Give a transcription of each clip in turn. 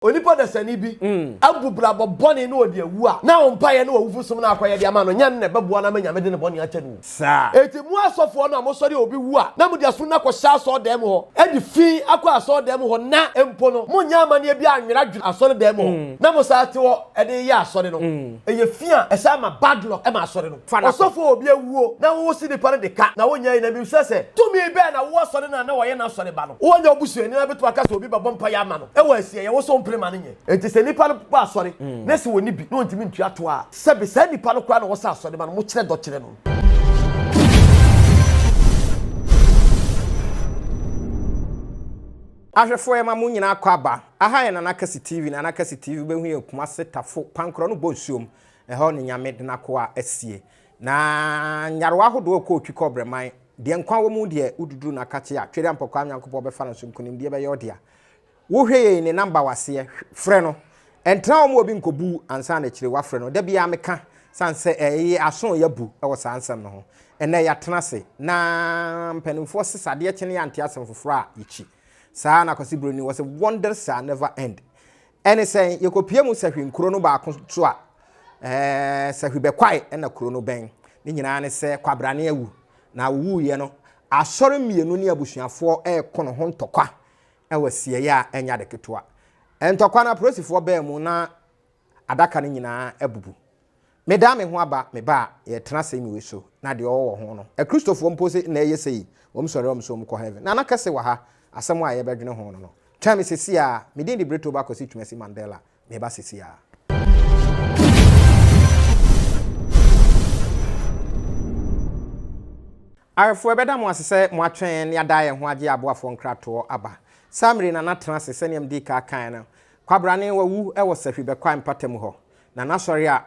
Onipa dasani bi abu brabɔ bɔne na ɔde awu a, na wo mpaeɛ ne w'awufo som no akɔyɛdeɛ ama no nyɛ no na ɛbɛboa no ama Nyame de ne bɔne akyɛ no o. Saa. Enti mo asɔfoɔ no a mosɔre a obi wu a, na mode aso no kɔhyɛ asɔredan mu hɔ, de fi akɔ asɔredan mu hɔ, na mpo no monyɛ amanneɛ bi annweradwera asɔredan mu hɔ, na mosan te hɔ de yɛ asɔre no, ɛyɛ fi a ɛsan ma bad luck ma asɔre no. fa n'akɔ. Ɔsɔfo a obi awuo na wosi nipa no de ka na wonyae yi na mebisa sɛ, tumi bɛn na wowɔ sɔre no a na wɔyɛ n'asɔre ba no? Wonyɛ wo busuani na wobɛtumi aka sɛ obi bɛbɔ mpaeɛ ama no wɔ asieɛ wo so wompere ma no nyɛ. Enti sɛ nipa no bɔ asɔre na sɛ ɔnni bi na ɔntumi ntua toɔ a, sɛbe saa nipa no koraa na wɔsɛ asɔre ba no, mokyerɛ dɔ kyerɛ no. Ahwɛfoɔ yɛma mo nyinaa kɔ aba. Aha yɛ Nana Kasi TV, Nana Kasi TV, wobɛhu yɛn Kumase, Tafo, Pankorɔ no Bɔ Nsuom. Ɛhɔ ne Nyame de n'akoa asie. Na nyarewa ahodoɔ a ɔkɔɔ Twikɔbrɛ man, deɛ nkwa wɔ mu deɛ, woduduru no akakye a, Twere Ampɔkwaa Nyankopɔn bɛfa no so, nkunimdie bɛyɛ ɔdea. Wohwɛ yei ne number wɔ aseɛ, frɛ no. Ɛntena hɔ ma obi nkɔbu wo ansa na akyire woafrɛ no. Da biara meka, sane sɛ ɛyɛ aso a yɛabu wɔ saa nsɛm no ho. Ɛnnɛ yɛatena ase, na mpanimfoɔ se sɛ adeɛ kye no yɛante asɛm foforɔ a, yɛkyi. Saa ara na Kwasi Broni, wɔse wonders shall never end. Ɛne sɛn? Yɛkɔpia mu sahwi nkuro no baako nso a, ɛɛ, sahwi bɛkwae na kuro no bɛn. Ne nyinaa ne sɛ kwabrane awu, na ɔwuiɛ no, asɔre mmienu ne abusuafoɔ reko no ho ntɔkwa wɔ asieeɛ a ɛnyɛ ade ketewa. Ntɔkwa no, apolisifoɔ baa mu na adaka no nyinaa abubu. Meda me ho aba me ba a yɛtena ase me wusu na deɛ ɔwɔ wɔ ho no. Akristofoɔ mpo se na ɛyɛ sei, wɔn sɔre a wɔn so wɔn kɔ heaven. Nana kɛse wɔ ha, asɛm a yɛbɛdwene ho no no. Twɛn me sesi ara, me din de Brito Bakosi Twumasi Mandela, meba sesi ara. Awɛfoɔ ɛbɛda mo ase sɛ mo atwɛn yɛn ne ada yɛn ho agye aboafoɔ nkratoɔ aba. Saa mmere yi Nana tena ase sɛdeɛ medii kaa kaeɛ no, Kwabrane wawu wɔ Sahwi Bɛkwae mpatamu hɔ. Na n'asɔre a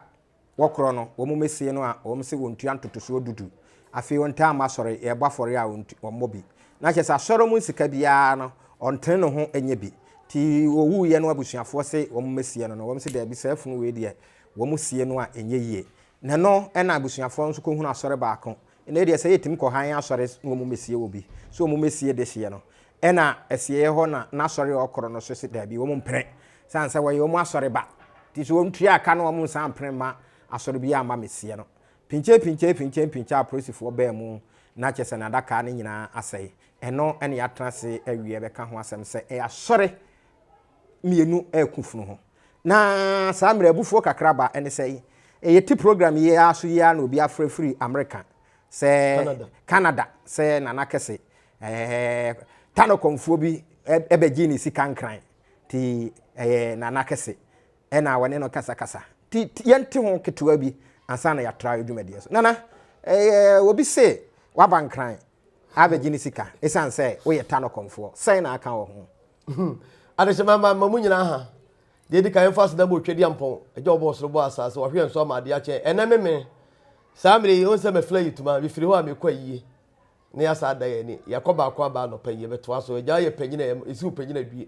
wɔkorɔ no, wɔmmɛsie no a wɔn se wɔntua ntotosoɔ du du. Afei ɔntaa mma asɔre, yɛrebɔ afɔreɛ a ɔntu, ɔmmɔ bi. Na kyerɛ sɛ asɔre mu sika biara no, ɔntene ne ho nyɛ bi. Nti ɔwuiɛ no abusuafoɔ se wɔmmɛsie no no, wɔn se daabi, saa funu wei deɛ, wɔsie no a ɛnyɛ yie. Na ɛno na abusuafoɔ no nso kɔhunu asɔre baako, Nnɛ deɛ sɛ yɛtumi kɔ hann asɔre na wɔmmɛsie wɔ bi, sɛ wɔmmɛsie dehyeɛ no, ɛna asieɛ hɔ na n'asɔre a ɔkoro no so se daabi wɔn mpene, sane sɛ wɔyɛ wɔn asɔre ba, nti sɛ wɔntua ka no wɔn nsan mpene mma asɔre biara mma mɛsie no. Pinkyee pinkyee pinkyee pinkyee apolisifoɔ baa mu na kyerɛ sɛ n'adakaa no nyinaa asɛe. Ɛno na yɛatena ase awie bɛka ho asɛm sɛ ɛyɛ asɔre mmienu reko funu ho. Na saa mmerɛ abufuo kakra ba, ɛne sɛ, yɛte program yi ara so yi ara na obi afrɛ firi Amerika sɛ Canada sɛ Nana Kɛse ɛɛ tanokɔmfoɔ bi ɛbɛgye ne sika nkran ti ɛyɛ Nana Kɛse ɛna wɔne no kasakasa ti yɛnte ho ketewa bi ansa na yɛatra adwumadeɛ so Nana ɛɛ obi se waba nkran abɛgye ne sika ɛsiane sɛ woyɛ tanokɔmfoɔ sɛn na aka wɔ ho Hmm. Adehyema ma ma mu nyinaa ha. Deɛ di kan yɛmfa aseda bɔ otwa di ampɔn. Agya ɔbɔ ɔsoro bɔ asase wahwe yɛn so ama adeɛ akyɛn. Ɛnɛ me me. Saa mmerɛ yi ɔhu sɛ mafiri ayi tuma. Mefiri hɔ a mekɔ ayie. Ne yɛasa ada yɛn ani. Yɛakɔ baako aba anɔpa yi yɛbɛtoa so. Agya yɛ panyin a ɛsi wo panyin adue.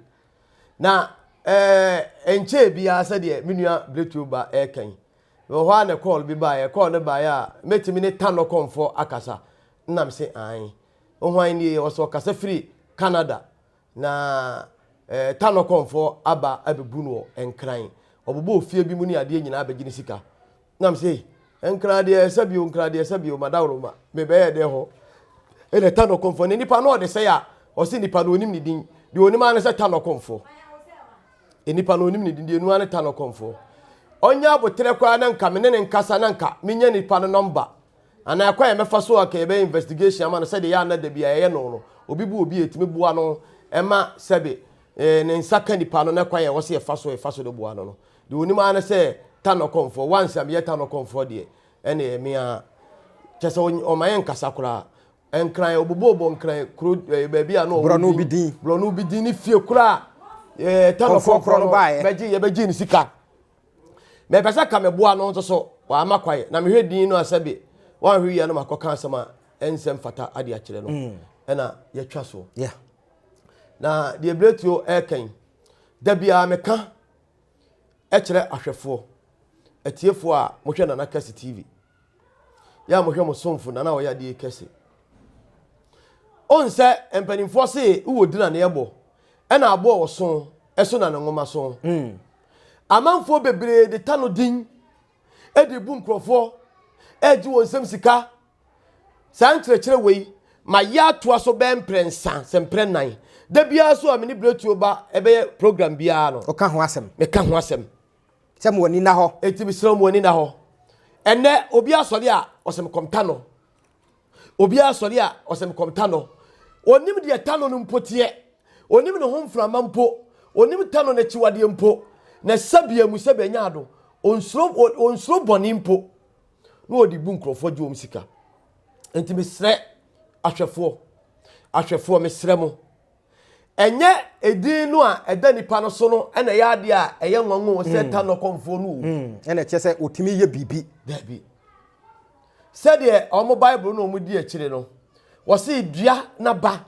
Na ɛɛ ɛnkyɛɛ biara sɛdeɛ me nua Bretuo ba ɛreka yi. Wɔ hɔ a na kɔɔl bi baeɛ. Kɔɔl no baeɛ a mɛtumi ne Tanɔkɔmfoɔ akasa. Nam se ae. Hwan nie? Ɔsɛ ɔkasa firi Canada. Na Tanokɔmfoɔ aba abɛbu no wɔ Nkran. Ɔbobɔɔ fie bi mu ne adeɛ nyinaa bɛgye ne sika. Na me se, Nkran deɛ ɛsɛ bio, Nkran deɛ ɛsɛ bio, madaworo ma me bɛyɛ dɛn hɔ? Ɛna Tanokɔmfoɔ ne nipa no ɔde sɛe a, ɔse nipa no ɔnim ne din. Deɛ ɔnim ara ne sɛ Tanokɔmfoɔ. Nipa no ɔnim ne din, deɛ ɔnim ara ne Tanokɔmfoɔ. Ɔnyɛ aboterɛ koraa na nka me ne ne nkasa na nka menya nipa no nɔmba. Anaa kwan a yɛbɛfa so a ka yɛbɛyɛ investigation ama no sɛdeɛ yɛ a na da bi a yɛyɛ no no, obi bu obi a ɛtumi boa no ma sɛbe ne nsa ka nipa no na kwan a ɛwɔ sɛ yɛfa so yɛfa so de boa no no. Deɛ ɔnim ara ne sɛ Tano kɔmfoɔ, once a meyɛ Tano kɔmfoɔ deɛ ɛne ɛyɛ me ara. Kyɛ sɛ ɔma yɛ nkasa koraa. Nkran, ɔbobɔbɔ nkran kuro baabi a na ɔwɔ din. Borɔno bi din. Borɔno bi din ne fie koraa. Tano kɔmfoɔ no bɛgye yɛbɛgye ne sika. mepɛ sɛ ka meboa no nso so wama kwae na mehwɛ din no a sɛbe wanhwɛ yie no makɔka asɛm a ɛnsɛ mfata ade akyerɛ no mm. ɛna yɛtwa soɔ na deɛ berɛtuo ɛrekɛn da biara meka ɛkyerɛ ahwɛfoɔ atiefoɔ a mohwɛ nana kasi tv yɛ a mohwɛ mo somfo na na ɔyɛ adeɛ kɛse ɔn sɛ mpanimfoɔ se wowɔ di na ne ɛbɔ ɛna aboɔ wɔ so ɛso na ne nwoma so hmm. amanfoɔ bebree de ta no din ɛde bu nkurɔfoɔ ɛgye wɔn nsɛm sika saa nkyerɛkyerɛ wei ma yɛ atoa so bɛɛ mprɛ nsa sɛ mprɛ nan da biara so a mene berɛtuo ba ɛbɛyɛ program biara no ɔka ho asɛm meka ho asɛm Sɛ mo ani na hɔ. Eti mi srɛ mo ani na hɔ. Ɛnɛ obi asɔre a ɔsɛ me kɔmta no. Obi asɔre a ɔsɛ me kɔmta no. Onim deɛ ta no no mpo teɛ. Onim ne ho mframa mpo. Onim ta no n'akyiwadeɛ mpo. Na sɛbea mu sɛbea nya ado. Onsuro onsuro bɔne mpo. Na ɔde bu nkurɔfoɔ gye wɔn sika. Enti mesrɛ ahwɛfoɔ ahwɛfoɔ mesrɛ mo. Ɛnyɛ edin no a ɛda nipa no so no na ɛyɛ adeɛ a ɛyɛ nwanwa o sɛ ta nɔkɔmfoɔ no o. Ɛna ɛkyɛ sɛ ɔtumi yɛ biribi. Daabi. Sɛdeɛ wɔn Bible na wɔn di akyire no, wɔse dua na ba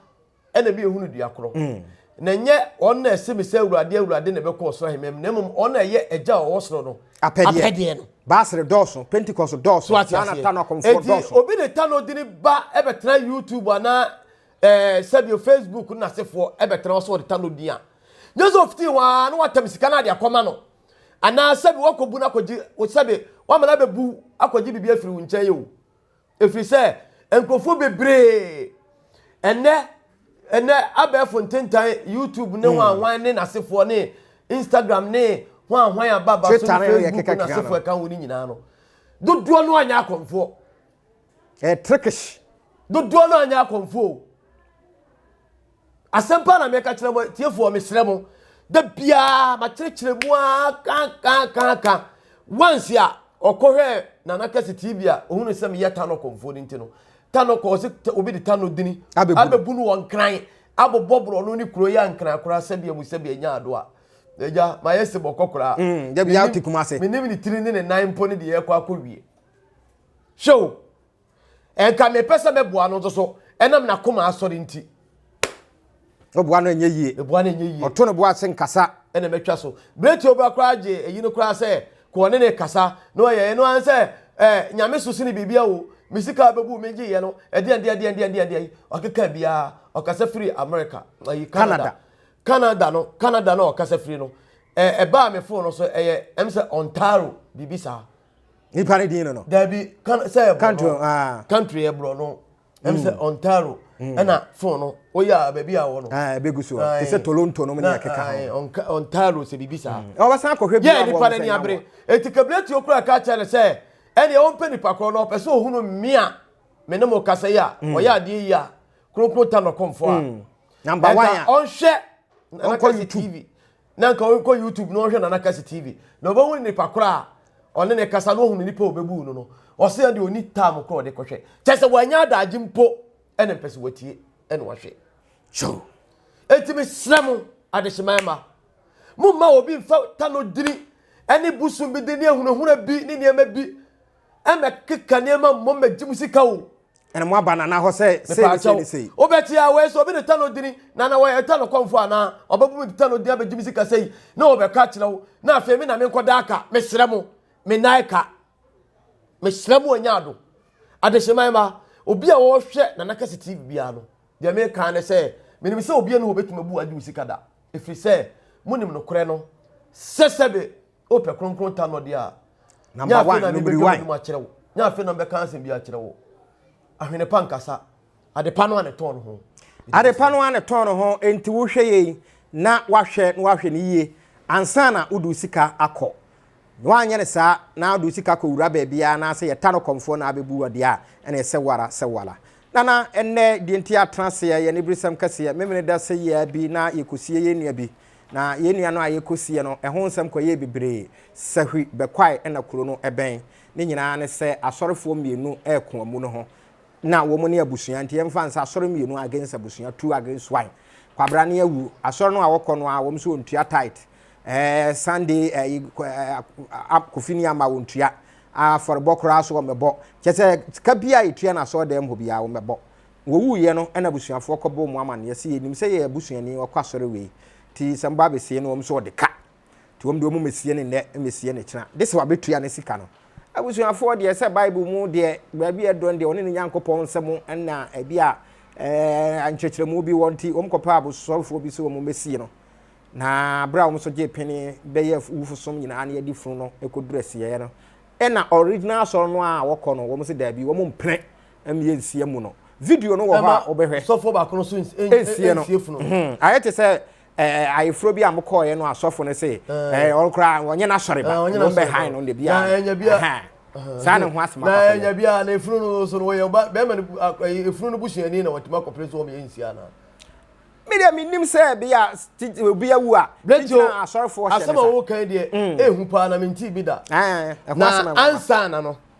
ɛna mi ehunu dua korɔ. Na ɛnyɛ wɔn na ɛse me sɛ awurade awurade na ɛbɛkɔ ɔsoro ahemam na mmom wɔn na ɛyɛ agya a ɔwɔ soro no apɛdeɛ no. Baasere dɔɔso, Pentecost dɔɔso, saa na ta nɔkɔmfoɔ dɔɔso. Eti obi ne ta nɔdini ba ɛbɛtena YouTube anaa Ɛɛ sɛdeɛ Facebook no n'asefoɔ bɛtena hɔ sɛ wɔde ta no din a, nyɛ sɛ ɔfiti hɔ ara na watam sika no ade akɔma no. Anaa sɛbi wakɔbu no akɔgye, sɛbi wama no abɛbu akɔgye biribi afiri wo nkyɛn o. Ɛfiri sɛ nkurɔfoɔ bebree ɛnɛ ɛnɛ abɛɛfo ntentan YouTube ne hwan hwan ne n'asefoɔ ne Instagram ne hwan hwan ababa so ne Facebook n'asefoɔ ɛka ho no nyinaa no dodoɔ no anyɛ akɔmfoɔ. Ɛyɛ trickish. Dodoɔ no anyɛ akɔmfo o. Asɛm paa na meka kyerɛ mo tiefoɔ mesrɛ mo. Da biara makyerɛkyerɛ mu a kankankanka. Once a ɔkɔ hwɛ Nana Kɛse TV a ohunu sɛ meyɛ Tano kɔmfo no nti no. Tano kɔ ɔsɛ obi de Tano dini abɛbu no wɔ nkran abobɔ borɔno ne kuro yɛ nkran koraa sɛbea mu sɛbea nya ado a. Agya mayɛ sebɔkɔ koraa. Mm, da biara ɔte Kumase. Menim ne tiri ne ne nan mpo ne deɛ ɛkɔ akɔwie. hwɛ o ɛnka mepɛ sɛ mɛboa no nso so ɛnam n'akoma asɔre nti ɔboa no ɛnyɛ yie ɛboa no ɛnyɛ yie ɔto no boa ase nkasa ɛna mɛtwa so berɛ ti ɔbra koraa gye ɛyi no koraa sɛ kɔɔ ne ne kasa na ɔyɛ ɛno ara sɛ ɛɛ nyame so sini biribi awo me sika bɛbu me gye yɛ no ɛdeɛn deɛn deɛn deɛn deɛn deɛn ɔkeka biara ɔkasa firi America ɛyi Canada Canada no Canada no ɔkasa firi no ɛbaa me fon no so ɛyɛ ɛm sɛ Ontario biribi saa nipa ne din no no. dabi kan sɛ yɛ country borɔ no aa country yɛ borɔ no ɛm sɛ ontario ɛna fon no oyɛ a baabi a wɔ no ɛɛ ebe gu so Aye. te sɛ toronto no mu ne na ɛkeka ae, ho Onka- ontario sɛ biribi saa ɔbɛsan akɔhwɛ bi yɛ abɔ nipa no ɔbɛsɛ ani nyaboa abere enti kabileti okura ka kyerɛ no sɛ ɛneɛ ɔmpɛ nipa korɔ no ɔpɛ sɛ ɔhunu me a me ne mo kasa yi a ɔyɛ adeɛ yi a kronkron ta nɔkɔmfoɔ a number one ɛnka a ɔnhwɛ Ɔnkɔ nana kasi YouTube. tv na nka ɔnkɔ youtube na ɔhwɛ nana kasi tv na ɔbɛhu ne nipa koro a ɔne ne kasa na ɔhu ne nipa a ɔbɛbu no no ɔse ɛde ɔni tam koro ɔde kɔhwɛ kyɛ sɛ wanya adagye mpo ɛne mpɛ sɛ watie ɛne wahwɛ so enti mesrɛ mo adehyeman ma momma obi mfa ta no dini ɛne bosom bi de ne ahunahuna bi ne nneɛma bi ɛmɛkeka nneɛma mmɔ mɛgye mu sika o ɛna mo aba nana hɔ sɛ sei ne sei ne sei wobɛte a wei sɛ obi ne ta no dini nana wɔyɛ ta no kɔmfo anaa ɔbɛbu me ta no dini abɛgye me sika sɛi na wɔbɛka akyerɛ wo na afei me na menkɔda aka mesrɛ mo me nan ka mesrɛ mo anya ado adehyeman ma obi a wɔhwɛ nana kɛse tv biara no deɛ meka ne sɛ menim sɛ obi ne hɔ bɛtumi abu agye wo sika da ɛfiri sɛ monim nokorɛ no sɛ sɛbe O pɛ kronkron ta no deɛ a. Nyɛ afei na mebɛdwa m'anim akyerɛ wo. Nyɛ afei na mebɛka asɛm bi akyerɛ wo. Ahwene pa nkasa. Adepa no a ne tɔn no ho. Adepa no a ne tɔn no ho enti wohwɛ yei na wahwɛ na wahwɛ no yie ansa na wode wo sika akɔ. Na woanyɛ no saa na wode wo sika kɔwura baabiara anaasɛ yɛta no kɔmfoɔ na abɛbu wɔ deɛ a ɛna ɛsɛ wo ara sɛ wo ara. Nana, ɛnnɛ deɛ nti atena aseɛ yɛ aniberesɛm kɛseɛ. Memene da sɛ yɛa bi na yɛkɔsie yɛn nua bi. Na yɛn nua no a yɛkɔsiiɛ no, ɛho nsɛm kɔyɛɛ bebree. Sahwi bɛkwae na kuro no bɛn. Ne nyinaa ne sɛ asɔrefoɔ mmienu reko amu no ho. Na wɔn ne abusua, nti yɛmfa no sɛ asɔre mmienu against abusua, two against one. Kwabra ne awu. Asɔre no a wɔkɔ no ara, wɔn nso wɔntua tithe. Eh, Sunday, eh, eh, Kofi ne ama wɔntua. Afɔrebɔ koraa so wɔmmɛbɔ. Kyɛ sɛ sika biara a yɛtua no asɔredan mu hɔ biara wɔmmɛbɔ. Wɔwuiɛ no na abusuafoɔ kɔbɔɔ mu amaneɛ sɛ yɛnim sɛ yɛn abusuani ɔkɔ asɔre wei nti sɛ moba abɛsie no wɔn nso wɔde ka nti wɔn deɛ wɔn mmɛsie no nnɛ mmɛsie no kyena gye sɛ wɔabɛtua ne sika no. Abusuafoɔ deɛ sɛ Bible mu deɛ baabi a ɛdɔ no deɛ wɔne ne Nyankopɔn nsɛm na ebi a ɛɛ nkyerɛkyerɛmu bi wɔ nti wɔn kɔpɛ abosɔrefoɔ bi sɛ wɔn mmɛsie no na berɛ a wɔn nso gye pene bɛyɛ wufosom nyinaa na yɛde funu no kɔduru asieɛ no ɛna original asɔre no a wɔkɔ no wɔn sɛ daabi wɔn mpene ɛmi yɛ nsie mu no video no wɔ hɔ a wobɛhwɛ sɔfoɔ baako no so nsie no mhm. ayɛ te sɛ ayeforo bi a mo kɔɔyɛ no asɔfo no se ɔno koraa wɔnyɛ n'asɔre ba wɔn bɛ han no debi a saa ne ho asɛm akɔpɛ na nya bi a na efunu no so no wɔyɛ ɔba bɛrima no efunu no busuani na wɔtumi akɔpere so wɔn yɛ nsia na mi deɛ mi nim sɛ bi a obi awu a gyina asɔrefoɔ hyɛ ne sa asɛm a wɔwɔ kan deɛ ehu paa na mi nti bi da na ansa na no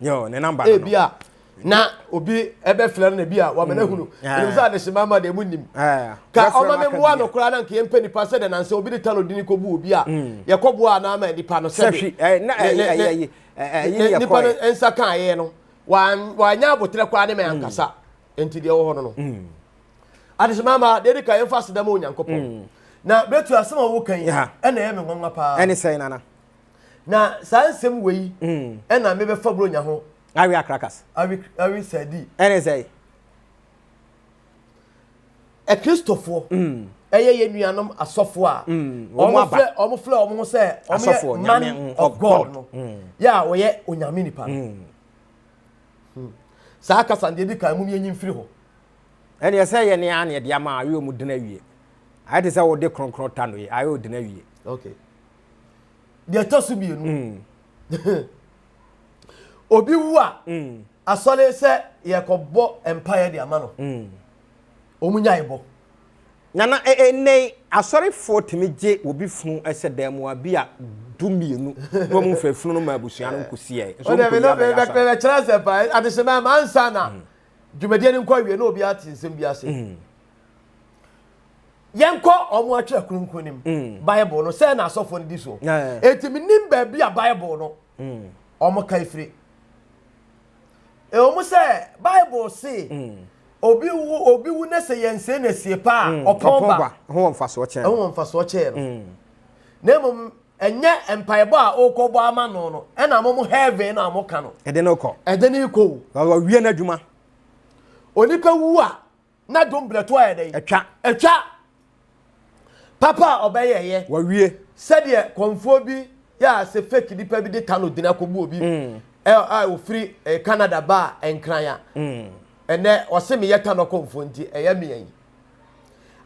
Yo, ne number no. Ebi a na obi ɛbɛfrɛ no na ebi a wama no ahunu. Ɛnim sɛ adehyema ma deɛ mu nim. Ka ɔma me mmoa no koraa na nka yɛmpɛ nipa sɛ dɛn nansɛ obi de talo dini kɔbu obi a yɛkɔboa anaa ma nipa no sɛ de nipa no nsa ka ayɛ no wanyɛ abotrɛ koraa ne ma ankasa nti deɛ wɔ hɔ no no adehyema ma deɛ de ka yɛmfa aseda ma onyankopɔn na bɛtu asɛm a woka yi ɛna ɛyɛ me nwanwa paa ɛne sɛn nana na saa nsɛm wei ɛna mm. mebɛfa buronya ho awe akrakas awe awe sadi ɛne sɛ akristofoɔ mm. ɛyɛ yɛ nuanom asɔfoɔ a mm. wɔn filɛ wɔn filɛ wɔn ho sɛ wɔn yɛ man of god no yɛ a wɔyɛ onyame nipa no hmm. saa kasa deɛ di kan mu yɛ nyi mfiri hɔ ɛne ɛsɛ yɛ ne aneɛ deɛ ama ayɛ wɔn dena wie ayɛ te sɛ wɔde kronkron ta no yɛ ayɛ wɔn dena wie okay deɛ ɛtɔ so mmienu mm. obi wu a mm. asɔre sɛ yɛkɔbɔ mpaeɛ de ama no mm. ɔmu nyae bɔ nana ɛnɛ e, e, asɔrefoɔ tumi gye obi funu ɛsɛ e dan mu a bi a du mmienu na wɔn fɛ funu no ma abusua no nkosiɛ nso wɔn kɔ yaba yasa ɔdɛ bɛ kyerɛ sɛ paa adehyemɛ amansa na dwumadie no nkɔ awie na obi ate nsɛm bi ase. yɛnkɔ ɔmo atwerɛ kronkron no mu mm. bible no sɛ na asɔfoɔ no di so enti menim baabi a bible no mm. ɔmo ka firi ɛwɔ mu sɛ bible se mm. obi wu obi wu ne sɛ yɛnsee no asie paa a ɔpɔn ba ho wɔ mfasoɔ kyɛn ho wɔ mfasoɔ kyɛn no na mmom ɛnyɛ mpaebɔ a ɔrekɔbɔ ama no no ɛna mo mo heaven na mo ka no ɛde no kɔ ɛde no kɔ o ɔwie n'adwuma onipa wu a na dom berɛ to ayɛ dɛn atwa atwa papa a ɔbɛyɛɛyɛ wawie sɛdeɛ kɔnfoɔ bi yɛ a sɛ fake nipa bi de ta no dene akɔbu obi mm. a ɔfiri eh, canada baa nkran a mm. ɛnɛ ɔse meyɛ ta no kɔnfoɔ nti ɛyɛ meɛ yi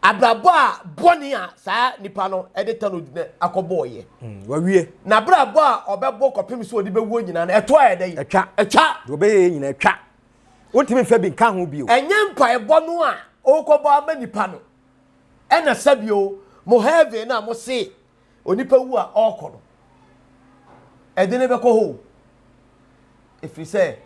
abrabɔ a bɔne a saa nipa no de ta no dine akɔbɔɔyɛ mm, wawie na abrabɔ a ɔbɛbɔ kɔpem sɛ ɔde bɛwuo nyinaa no ɛtoa yɛ dɛn atwa atwa deɛ ɔbɛyɛ nyina atwa Wontumi mfa bi nka ho bio. Ɛnyɛ mpaebɔ no a wokɔbɔ ama nnipa no na ɛsɛ bio, mo heaven no a mose onipa wu a ɔkɔ no, ɛde no bɛkɔ hɔ o. Ɛfiri sɛ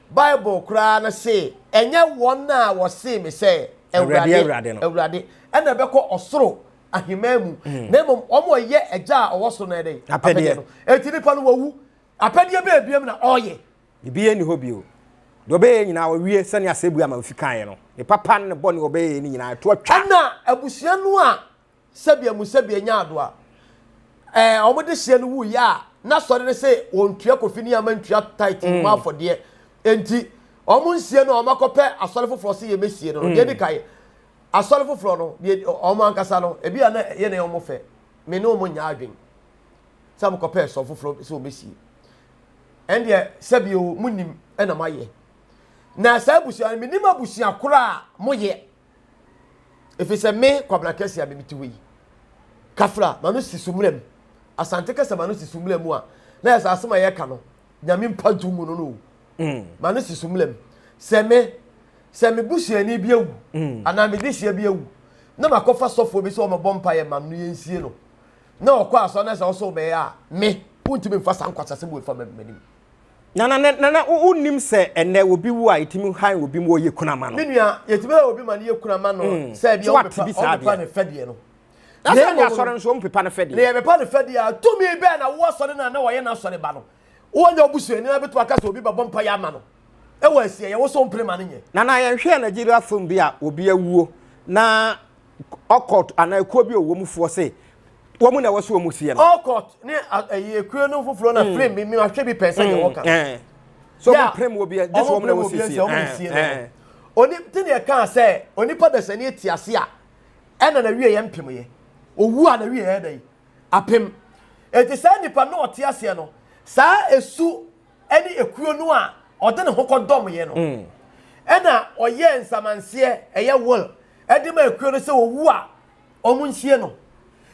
Bible koraa no se, Ɛnyɛ wɔn a wɔse me sɛ, Awurade, Awurade, na ɛbɛkɔ ɔsoro ahemman mu, na mmom wɔn a wɔyɛ Agya a ɔwɔ soro no apɛdeɛ no. Enti nnipa no wawu, apɛdeɛ bɛn biom na ɔreyɛ? Biribiara nni hɔ bio. Deɛ ɔbɛyɛ nyinaa ɔwie sɛnea asɛbue ama ofi kaeɛ no. Ne papa ne ne bɔne ɔbɛyɛ ne nyinaa to atwa. Ɛna abusua no a sɛbea mu sɛbea nyaa ado a ɛɛ wɔn dehyeɛ no wuiɛ a na sɔre no se wɔntua Kofi ne Yama ntua tithe no mu afɔdeɛ enti wɔn nsie no a wɔn akɔpɛ asɔre foforɔ se yɛmɛsie no no deɛ edi kan asɔre foforɔ no deɛ wɔn ankasa no ebi a na yɛ na wɔn fɛ me ne wɔn nyaa adwene sɛ wɔn kɔpɛ sɔre foforɔ sɛ wɔmɛsie ɛndeɛ sɛbi o mo nim ɛna mo ayɛ na saa abusua no menim abusua koro a mo yɛ ɛfiri sɛ me kwabena kɛse a memete hɔ yi kafra ma no si so mmerɛ mu asante kasa ma no si so mmerɛ mu a na yɛ sɛ asɛm a yɛka no nyame mpa nto mu no no o mm. ma no si so mmerɛ mu sɛ me sɛ me busuani bi awu mm. anaa me dehyeɛ bi awu na makɔfa sɔfoɔ bi sɛ ɔmɛbɔ mpa yɛ ma no yɛnsie no na ɔkɔ asɔre na sɛ ɔsɔw bɛyɛ a, me, wontumi mfa saa nkwaseasɛm wei fa m'anim. Na na na na wonnim sɛ ɛnnɛ obi wu a yɛtumi han obi ma ɔyɛ kunu ama no. Me nua, yɛtumi han obi ma no yɛ kunu ama no mm. sɛ ebi ɔmpepa ne fɛdeɛ no. Na sɛ ne asɔre nso ɔmpepa ne fɛdeɛ. Na yɛbɛpa ne fɛdeɛ a tumi bɛn na wo asɔre no a na wɔyɛ n'asɔre ba no. Wɔnyɛ obusuani na bɛtumi aka sɛ obi bɛbɔ mpa yɛ ama no. Ɛwɔ asie, yɛwɔ so mpere ma no nyɛ. Na na yɛnhwɛ Nigeria film bi a obi awuo na ɔkɔt anaa ekuo bi ɔwɔ mu foɔ se wɔn na ɛwɔ so wɔn sie no. ɔkɔt ne ɛyi ekuo no foforɔ na prim mi mi ahwɛ bi pɛn sɛ yɛ wɔ kan. so wɔn prim wɔ bi yɛ gye so wɔn na ɛwɔ sie sie no. oni ti ni ɛka sɛ onipa dasani eti ase a ɛna na wie yɛ mpem yɛ owu a na wie yɛ dɛ apem eti saa nipa na ɔte aseɛ no saa esu ɛne ekuo no a ɔde ne ho kɔdɔmeɛ no, ɛna ɔyɛɛ nsamanseɛ, ɛyɛ will, de maa ekuo no sɛ ɔwu a, wɔnsie no.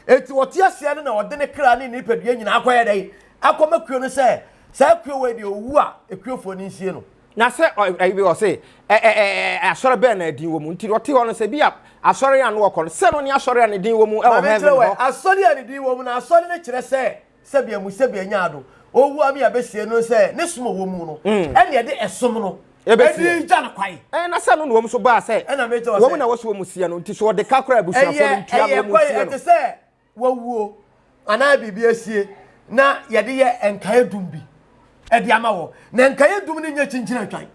Enti ɔte aseɛ no na ɔde ne kra ne ne nipadua nyinaa akɔyɛ dɛn? Akɔma kuo no sɛ saa ekuo wei deɛ ɔwu a, ekuofoɔ no nsie no. Na sɛ ɛbi wɔ se asɔre bɛn na din wɔ mu nti ɔte hɔ no sɛ bi a asɔre a no wɔkɔ no sɛ no ne asɔre a ne din wɔ mu wɔ heaven hɔ. Asɔre a ne din wɔ mu no asɔre no kyerɛ sɛ sɛbea mu sɛbea nyaa do owu ame abesie no sɛ ne som ɔwɔ mu no mm. ɛne ɛde ɛsom no ɛde gya no kwae ɛna sɛ no na wɔn so baa sɛ wɔn na wɔso wɔn sie no nti so wɔde ka kora abusuafo no ntua na wɔn sie no ɛyɛ kwae ɛte sɛ wɔwuo anaa biribi asie na yɛde yɛ nkae dum bi ɛde ama wɔ na nkae dum no nyɛ kyinkyina twan.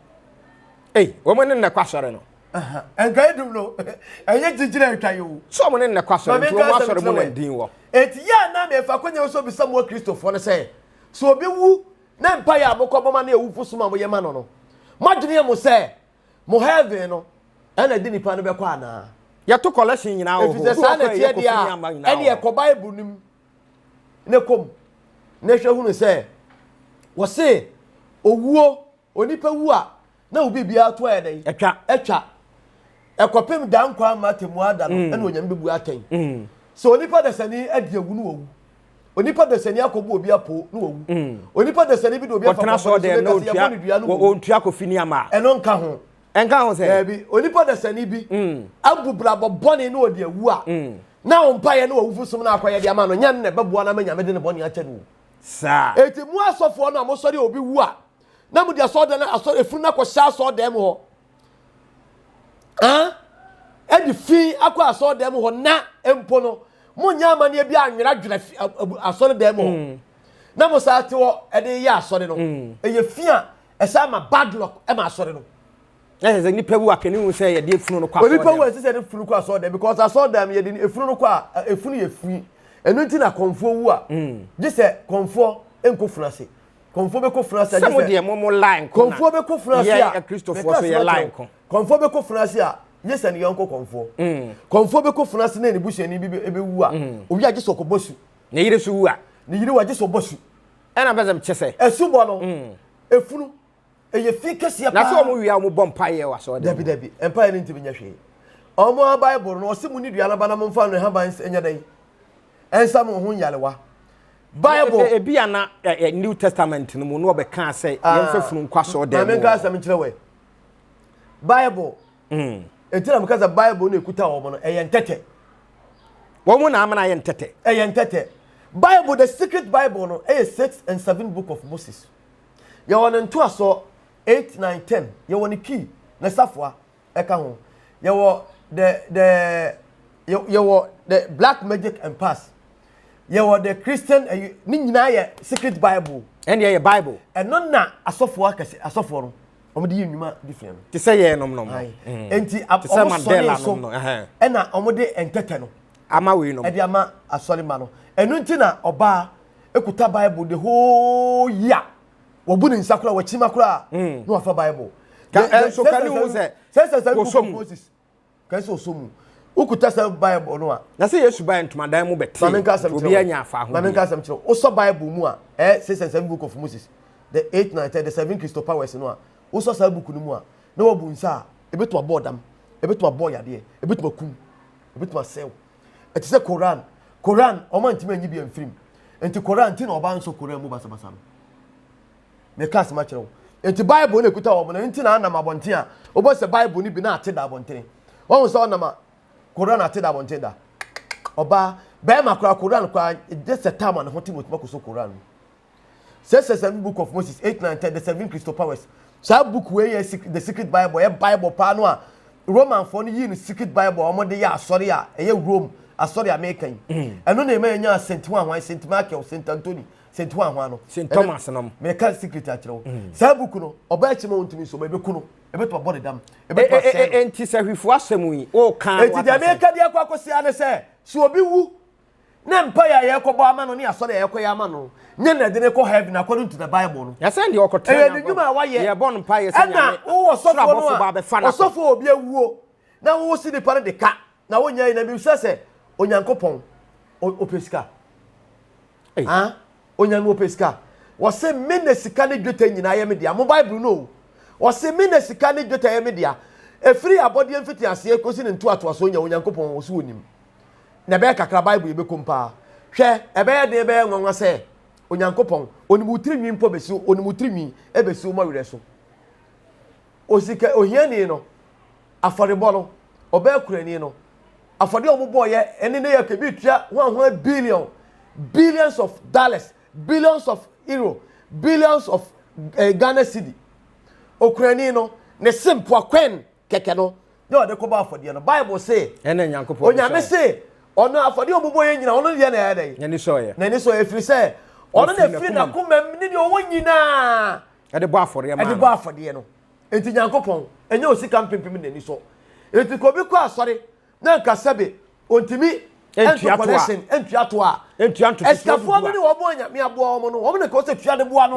ɛy wɔn ne nnɛ kɔ asɔre no. nka edum no ɛnyɛ gyingyina atwa yi o. sɛ ɔmo ne nnɛ kɔ asɔre nti ɔmo asɔre mu na ndin wɔ. eti yɛ anam yɛ fa konya nso bisa mu akristofoɔ no sɛ so obi wu na mpa yɛ a mo kɔ bɔma ne awufo suma mo yɛ ma no no mo adwene yɛ mo sɛ mo heaven no ɛna ɛde nipa no bɛkɔ anaa. yɛto collection nyinaa wɔ hɔ efisɛ saa na ɛteɛ deɛ a ɛne ɛkɔ bible nim ne kɔm na ɛhwɛ hunu sɛ wɔse owuo. Onipa wu a, na wo biribiara to ayɛ dɛn? Atwa. Ɛkɔpem daa nkwa mma atemmuaa da no, ɛna Onyame bɛbu atɛn. Sɛ onipa dasani adi awu, na wawu. Onipa dasani akɔbu obi apoo, na wawu. Onipa dasani bi de obi afa kɔbɔne so, na ɛka sɛ yɛbɔ no dua, na wawu. Ɛno nka ho. Daabi. Onipa dasani bi abu brabɔ bɔne na ɔde awu a, na wo mpaeɛ ne w'awufo som no akɔyɛ de ama no nyɛ ɛno na ɛbɛboa no ama Nyame de ne bɔne akyɛ no o. Enti mo asɔfoɔ no a mosɔre a obi wu a, na mode asɔredan no asɔre efunu no akɔhyɛ asɔredan mu hɔ ɛde fi akɔ asɔredan mu hɔ na mpo no monyɛ amanneɛ bi anweradwera asɔredan mu hɔ mm. na mo saa te hɔ ɛde yɛ asɔre no mm. ɛyɛ fi a ɛsɛ ama bad luck ɛma asɔre no ɛsɛ sɛ nipa wu akɛne hu sɛ yɛde efunu no kɔ asɔredan nipa wu ɛsɛ sɛ yɛde efunu kɔ asɔredan because asɔredan yɛde efunu no kɔ a efunu yɛ fi ɛno nti na kɔnfoɔ wu a mm. gye sɛ kɔnfoɔ nkɔ funu ase kɔnfoɔ bɛkɔ funu ase agye sɛ sɛ mo deɛ mo mo lie nko na kɔnfoɔ bɛkɔ funu ase a yɛ akristofoɔ so yɛ lie nko kɔnfoɔ bɛkɔ funu ase a nye sɛ ne yɔnko kɔnfoɔ mm. kɔnfoɔ bɛkɔ funu ase na ne busuani bi bɛwu a mm. owi agye sɛ ɔkɔbɔ su ne yere so wu a ne yere wagye sɛ ɔbɔ su ɛna bɛsɛ kyɛ sɛ ɛsu bɔ no mm. efunu ɛyɛ fi kɛseɛ paa na sɛ ɔmo wia ɔmo bɔ mpaeɛ wɔ asɔre dabi dabi mpaeɛ no ntumi nyɛ hwee ɔmo a bible no ɔse mu ne dua no ba na mo mfa no haban nyɛ dɛn ɛnsa mo ho nyarewa bible e, e, ebi ana eh, eh, new testament no mu na ɔbɛka sɛ ah. yɛmfa funu nkɔ asɔre dɛm mu menka asɛm nkyerɛ wɛ bible mm. ɛti na meka sɛ bible no ɛkuta wɔ mo no ɛyɛ ntɛtɛ wɔn mu na amena yɛ ntɛtɛ ɛyɛ ntɛtɛ bible the secret bible no ɛyɛ six and seven book of moses Yɛwɔ ne ntoasoɔ, eight, nine, ten. Yɛwɔ ne key, ne safoa, ɛka ho. Yɛwɔ the the yɛwɔ the black magic and pass. Yɛwɔ the Christian ɛyi ne nyinaa yɛ secret bible. Ɛne yɛ bible. Ɛno na asɔfoɔ akɛse asɔfoɔ no wɔn de yɛ nnwuma de fia no. Te sɛ yɛn nom nom. Nti wɔn sɔre so ɛna wɔn de ntɛtɛ no. ama wei nom. ɛde ama asɔre ma no ɛno nti na ɔbaa ekuta bible the whole year wɔbu ne nsa koraa wɔkyima koraa hmm. na wafa bible. ka ɛnso ka ne ho sɛ sɛ sɛ sɛ book of moses ka ɛsɛ ɔsɔ mu wokuta sɛ bible no a. na sɛ yesu baa ntomadan mu bɛte maame nka asɛm obi anya afa ahodeɛ maame nka asɛm kyerɛ wosɔ bible mu a ɛɛ sɛ sɛ sɛ book of moses the eight nine ten the seven christo powers no a wosɔ saa book no mu a na wabu nsa a ebi to abɔ ɔdam ebi to abɔ yadeɛ ebi to akum Obetumi asɛe wo. Ɛte sɛ Koran. Koran, wɔn antumi anyi bi amfiri mu. Nti Koran ti na ɔbaa nsɔ Koran mu basabasa no. Meka asɛm akyerɛ wo. Nti Bible na ekuta wɔn na nti na anam abɔnten a wobɔ sɛ Bible no bi na ate da abɔnten. Wɔn sɛ ɔnam a Koran ate da abɔnten da. Ɔbaa, bɛrima koraa Koran koraa gye sɛ tam a ne ho te na otumi akɔsɔ Koran mu. sɛ sɛ sɛ book of moses eight nine ten the seven crystal powers saa book wei yɛ secret the secret bible yɛ bible paa no a romanfoɔ no yii no secret bible a wɔde yɛ asɔre a ɛyɛ rome asɔre a meka yi ɛno na ɛma yɛnya saint hwanhwan saint michael saint anthony saint hwanhwan no St. Ɛno- Thomas nom. meka secret akyerɛ wo saa book no ɔbaa akyi ma wɔntumi nso ma ɛbɛku no ɛbɛtumi abɔ ne dam E- ɛbɛtumi e- asɛe e- no e- Nti sɛ hwefo asɛm yi, woka no eti deɛ waka sɛ- meka deɛ kɔ akɔsi ara ne sɛ sɛ obi wu na mpae a yɛkɔbɔ ama no ne asɔre a yɛkɔyɛ ama no nyɛ na ɛde no kɔ heaven according to the bible no. Yɛsɛ deɛ ɔkɔtena ɛyɛ ne dwuma a wayɛ. Yɛbɔ no mpae yɛ sɛ nyame soro abɔfo ba abɛfa no. Ɔsɔfo a obi awuo na wosi nipa no de ka na wonya yi na bi sɛ sɛ onyankopɔn ɔpɛ sika. Ah, onyankopɔn ɔpɛ sika. Wɔse me na sika ne dwetɛ nyinaa yɛ me dea. Mo bible no o. Wɔse me na sika ne dwetɛ yɛ me dea. Efiri abɔdeɛ mfitiaseɛ kosi ne ntoatoasoɔ nyɛ onyankopɔn ɔso onim. na ɛbɛyɛ kakra Bible yɛ bɛkom paa. Hwɛ, ɛbɛyɛ den bɛyɛ nwanwa sɛ Onyankopɔn, onim wo tiri nwi mpo bɛsi, onim wo tiri nwi ɛbɛsi wo mɔwerɛ so. Osika ohiani no, afɔrebɔ no, ɔbaa kurani no, afɔdeɛ ɔmo bɔɔ yɛ, ɛne ne yɛ kɛ, bi tua hwan hwan billion, billions of dollars, billions of euro, billions of eh, Ghana city. Okurani no, ne se mpoa kwɛn kɛkɛ no na ɔde kɔbɔ afɔdeɛ no bible se onyame se ɔno afɔdeɛ ɔmo bɔ yɛ nyina ɔno deɛ na ɛyɛ dɛn n'ani sɔɔyɛ n'ani sɔɔyɛ ɛfiri sɛ ɔno na ɛfiri n'akomam ne deɛ ɔwɔ nyinaa ɛde bɔ afɔdeɛ maa ɛde bɔ afɔdeɛ no nti nyankopɔn ɛnyɛ osika mpempem n'ani sɔ nti kobi kɔ asɔre na nka sɛbe ontimi ntua collection ntua to a ntua ntoto ɛsikafoɔ no ne wɔn a nyame aboa wɔn no wɔn na kɔsɛ tua de boa no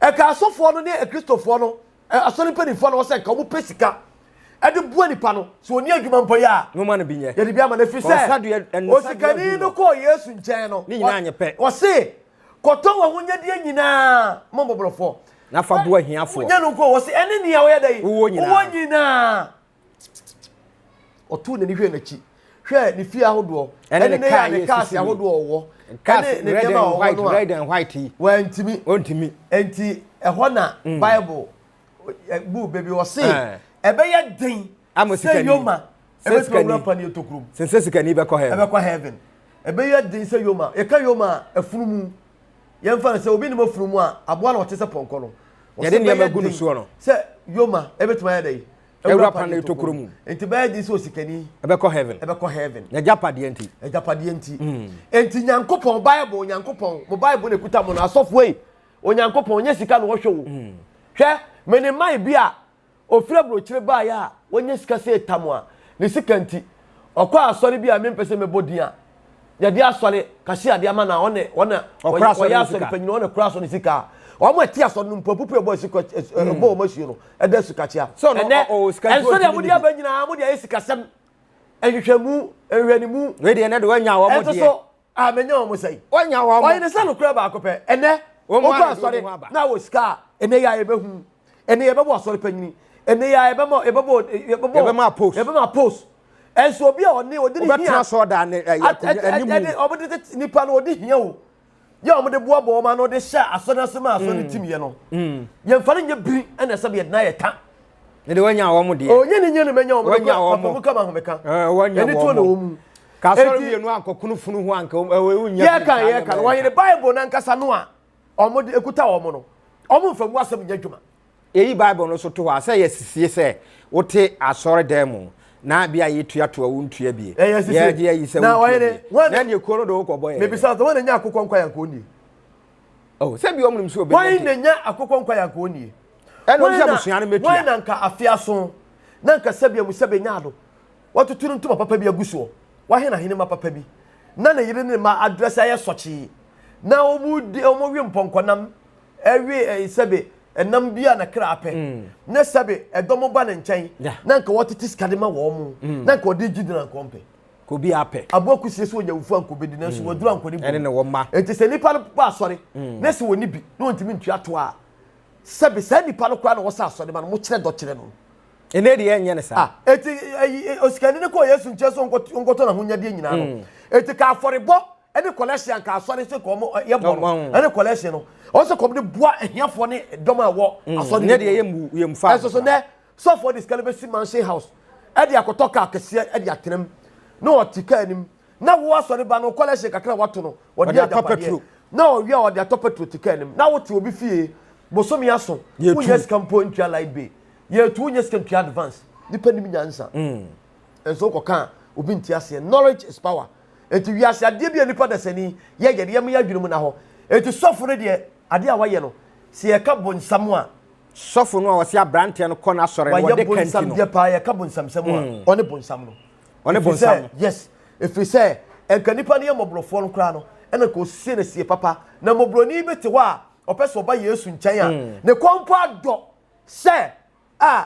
ɛka hmm. asɔfoɔ no ne akristofoɔ no Asɔre mpanimfoɔ na wɔsɛ nka wɔpɛ sika de boa nipa no sɛ ɔni adwuma mpo yɛ a. Nwoma no bi nyɛ. Yɛde bi ama no ɛfiri sɛ osikani no kɔɔ Yesu nkyɛn no. Ne nyinaa nyɛ pɛ. Ɔse kɔtɔ wɔn ahonyadeɛ nyinaa ma mmɔborɔfoɔ. Na fa boa ahiafoɔ. Nyɛ no nko wɔse ɛne nea ɔyɛ dɛ. Wowɔ nyinaa. Wowɔ nyinaa. ɔtoo n'ani hwɛɛ n'akyi hwɛɛ ne fie ahodoɔ ɛne ne kaa ne kaase ahodoɔ a ɔwɔ ɛne ne nneɛma a ɔwɔ no a wantumi ɔntumi nti ɛhɔ na mm. bible bu baabi ɔse eh. ɛbɛyɛ den sɛ yoma ɛbɛtumi awura pa ne ɛtɔkurom sɛ sikani bɛkɔ heaven ɛbɛkɔ heaven ɛbɛyɛ den sɛ yoma yɛka yoma a afunumu Yɛmfa no sɛ obi nim afunumu a aboa no ɔte sɛ pɔnkɔ no. Yɛde nneɛma gu no soɔ no. Sɛ yoma ɛbɛtumi ayɛ dɛn? Awura pa ne tokuro mu. Nti bɛyɛ den sɛ osikani. Ɛbɛkɔ heaven. Ɛbɛkɔ heaven. N'agyapadeɛ nti. Agyapadeɛ nti. Nti Nyankopɔn bible Nyankopɔn mo bible na ɛkuta mo no asɔfoɔ ei Onyankopɔn nyɛ sika na ɔhwɛ o hwɛ me ne man bi a Ofiri aburokyire baeɛ a wanya sika sɛ etam a ne sika nti ɔkɔɔ asɔre bi a mempɛ sɛ mɛbɔ din a yɛde asɔre kahyia de ama no a ɔne wɔn a Ɔkora asɔre wɔyɛ no asɔre sika. panyin wɔn na ɛkora asɔre no sika a wɔn a ɛte asɔre no mpo apupu a ɛbɔ asu kɔ as- ɛ- ɛbɔ wɔn asuo no ɛda asu kakyia So ɔno ɛnɛ ɔ- ɔwɔ sika nti ɛnsɔ ɔntumi deɛ mode nni bi. aba nyinaa mode ayɛ sikasɛm nhwehwɛmu nhwɛnimu Wei deɛ ɛnɛ de wanya wɔn ɛnso deɛ. so a menya wɔn sɛn ɔnya wɔn ɔyɛ ne sɛ nokorɛ baako pɛ ɛnɛ ɔkɔ asɔre na wɔ sika a ɛnɛ yɛ a yɛbɛhu ɛnɛ yɛbɛbɔ asɔre panyini ɛnɛ yɛ a yɛbɛma yɛbɛbɔ yɛbɛbɔ post yɛbɛma post ɛnso obi a ɔne ɔde ne hia ɛde ɔmo de tete nipa no ɔde hia o yɛ ɔmo de boa bɔ ɔmo ano de hyɛ asɔre ase ma asɔre tim yɛ no yɛn fa ne nyɛ biri ɛna ɛsɛ bi yɛ de na yɛ ta. Mede wanya wɔn deɛ. Onye ne nyɛ no manya wɔn. Wanya wɔn. Papa mu ka ma homeka. Wanya wɔn. Ɛni tuo na wɔn mu. Kasɔre mmienu ankɔkunu funu ho anka wɔn nyɛ. Yɛ kan yɛ kan wɔn yɛn Bible nankasa no a wɔn de ekuta wɔn no wɔn nfa mu asɛm nyɛ adwuma. Eyi Bible no so to hɔ a sɛ yɛ sisie sɛ wote asɔre dan mu na bi a yɛ tua to a wɔn tua bie. Yɛ sisie yɛ yi sɛ wɔn tua bie. Na yɛ kuo no do kɔ bɔ yɛ. Mebisa sɛ wɔn na nya akokɔ nkwa yɛ nkɔɔ nie. Oh sɛ bi wɔn nim sɛ obi. Wɔn na nya akokɔ nkwa yɛ nkɔɔ nie. Ɛna ɔno sɛ abusua no mɛtua. Wɔn na nka afe aso na nka sɛbea mu sɛ bɛnya ado. Wɔatoto no ntoma papa bi agu soɔ. Wɔahen ahenemma papa bi. Na ne yere ne ne mma adrɛse ayɛ sɔkyee. Na wɔwe mpɔnkɔnam, we sɛbe ɛnam bi a ne kra pɛ. Na sɛbe ɛdɔm ba ne nkyɛn na nka ɔtete sika de ma wɔn. Na nka ɔde gyidi na nka ɔmpɛ. Kobi apɛ. Aboa kusie sɛ ɔnyawufo a nka ɔbɛdi nanso waduru ankɔ ne bom. Ɛne ne wɔn mma. Enti sɛ nnipa no bɔ asɔre na sɛ wɔnni bi na wɔntumi ntua toɔ a, Sɛbe saa nipa no koraa na wɔsɛ asɔre ma no, mokyerɛ dɔ kyerɛ no. Ɛnnɛ deɛ ɛnyɛ no saa. Ah, eti ɛyi eh, eh, osikani no kɔɔ Yesu nkyɛn sɛ ɔnkɔt- ɔnkɔtɔ n'ahonyadeɛ nyinaa no. Mm. Eti ka afɔrebɔ ɛne collection anka asɔre sɛ kɔn mo ɛ, yɛbɔ no Ɔbɔn. ɛne collection no. Ɔsɛ kɔm de boa ahiafoɔ ne dɔm a ɛwɔ Mm. asɔre Ɛnyɛ no deɛ mu. yɛmmu- yɛmfa Ɛso so nnɛ Sɔfoɔ de sika no bɛsi mansion house de akɔtɔ kaa kɛseɛ de atena mu na ɔte kaa no mu na wo asɔre ba no collection kakra wato no ɔde atɔ petro na ɔwie a ɔde atɔ petro te kaa no mu na wote obi fie bosome aso wonyɛ sika mpo ntua light bill yɛtu wonyɛ sika ntua advance nipa nim nyansa mm. nso wokɔka a obi nti aseɛ knowledge is power enti wiase adeɛ bi a nipa dasani yɛyɛ deɛ mo yɛ adwene mu na hɔ enti sɔfo no deɛ adeɛ a wayɛ no sɛ yɛka bonsam a Sɔfo no a ɔse abranteɛ no kɔ n'asɔre no wɔde ka nti no. paa yɛka bonsamsɛm a mm. ɔne bonsam no. Ɔne bonsam no. Yes. Ɛfiri sɛ ɛnka nnipa no yɛ mmɔborɔfoɔ no koraa no ɛna nka ɔsie no sie papa. Na mmɔborɔni bi te hɔ a ɔpɛ sɛ ɔba Yesu nkyɛn a mm. ne kɔn mpo adɔ sɛ a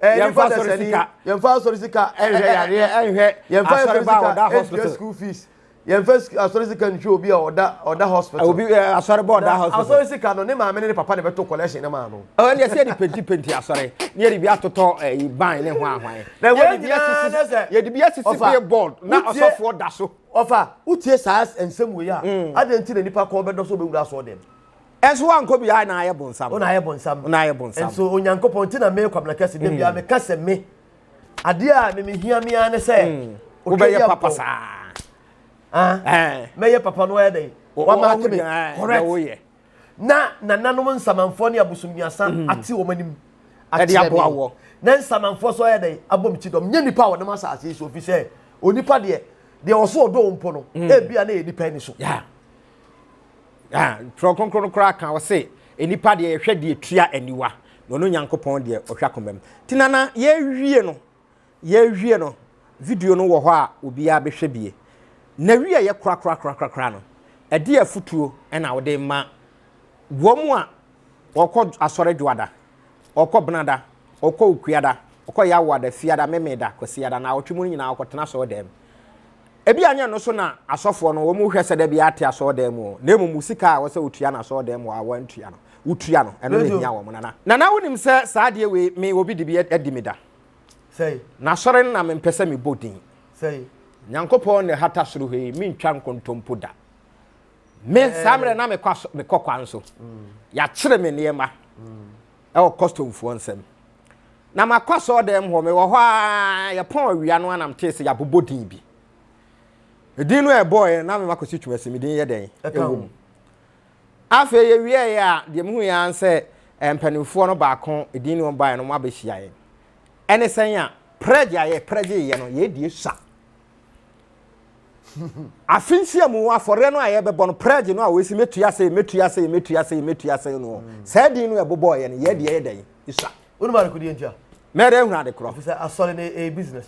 Eh, yɛmfa asɔre sika yɛmfa asɔre sika ɛnhwɛ eh, eh, yareɛ ɛnhwɛ yɛmfa asɔre ba ɔda hospital school fees yɛmfa asɔre sika nhwɛ obi a ɔda ɔda hospital obi asɔre ba ɔda hospital asɔre sika no ne maame ne ne papa na ɛbɛto collection ne maa no ɛwɔ ne yɛsɛ de penti penti asɔre ne yɛde bi atotɔ ɛyi ban ne ho ahwan na ɛwɔ de bi asisi yɛde bi asisi bee board na ɔsɔfoɔ da so ɔfa wotie saa nsɛm wei a mm. adeɛ nti na nipa kɔɔ bɛdɔ so bɛwura asɔɔ dɛm Ɛnso wankɔ biara na ayɛ bonsam. Ɔna ayɛ bonsam. Ɔna ayɛ bonsam. Ɛnso Onyankopɔn ti na me kwabena kɛse de bia mm. me ka sɛ me. Adeɛ a me mehia me ara ne sɛ. Mm. Wobɛyɛ papa saa. Ah. Eh. Mɛyɛ papa no ayɛ dɛ. Wama ate me. Eh, Correct. Na nananom nsamanfoɔ ne abosommiasa mm. ate wɔn anim. Ɛde aboa wɔ. Na nsamanfoɔ so ayɛ dɛ abom ti dɔm. Nyɛ nipa a wɔnam asase yi so ofi sɛ onipa deɛ deɛ ɔso ɔdɔ wɔn mpo no. Ebia na yɛ nipa ani so. Yeah. Ah, Twerɛ Kronkron no koraa ka, ɔse, nnipa deɛ yɛhwɛ deɛ tua aniwa, na ɔno Nyankopɔn deɛ ɔhwɛ akomam. Nti na na yɛwie no, yɛwie no, video no wɔ hɔ a obiara bɛhwɛ bie. Na wie yɛ korakorakorakorakora no, ɛde afutuo ɛna wode ma wɔn a wɔkɔ asɔre dwoada. Ɔkɔ Benada, ɔkɔ Okuada, ɔkɔ Yawoada, Fiada, Memeda, Kwasiada, naawɔtwe mu no nyinaa ɔkɔtena asɔɔdan mu. Ebia nyɛ ɛno so na asɔfoɔ no wɔn hwɛ sɛ da biara te asɔɔdan mu o, na mmom wo sika a wɔsɛ wotua no asɔɔdan mu a wɔantua no, wotua no, ɛno na ehia wɔn, Nana. Nana, wonim sɛ saa adeɛ wei me obi de bi adi me da. Sɛi. N'asɔre no na mempɛ sɛ mebɔ din. Sɛi. Nyankopɔn na ɛhata soro ha yi, mentwa nkontompo da. Me saa mmerɛ na mekɔ aso mekɔ kwan so. Yɛakyere me nneɛma ɛwɔ kɔstomfoɔ nsam. Na makɔ asɔɔdan mu hɔ, mewɔ hɔ ara yɛpɔn awia no anam tee sɛ yɛabobɔ din bi. Edin no a ɛbɔɔɛ na mema kɔsi twuma si me din yɛ dɛn ɛwɔ mu. Afei yɛwieɛ a deɛ mehu yɛ ara sɛ eh, mpanimfoɔ no baako edin no ɔbaeɛ no wɔn abɛhyia yɛn. Ɛne sɛn a prɛgye a yɛprɛgyeeɛ no yɛdie sa. afe nsia mu afɔreɛ no a yɛbɛbɔ no prɛgye no a wɔsi mɛtua sɛ mɛtua sɛ mɛtua sɛ mɛtua sɛ no mm. saa din no ɛbobɔɔ yɛ no yɛ deɛ yɛ dɛn ɛsua wonim adekodeɛ ntia mɛdɛ ahunu ade korɔ sɛ asɔre no ɛyɛ business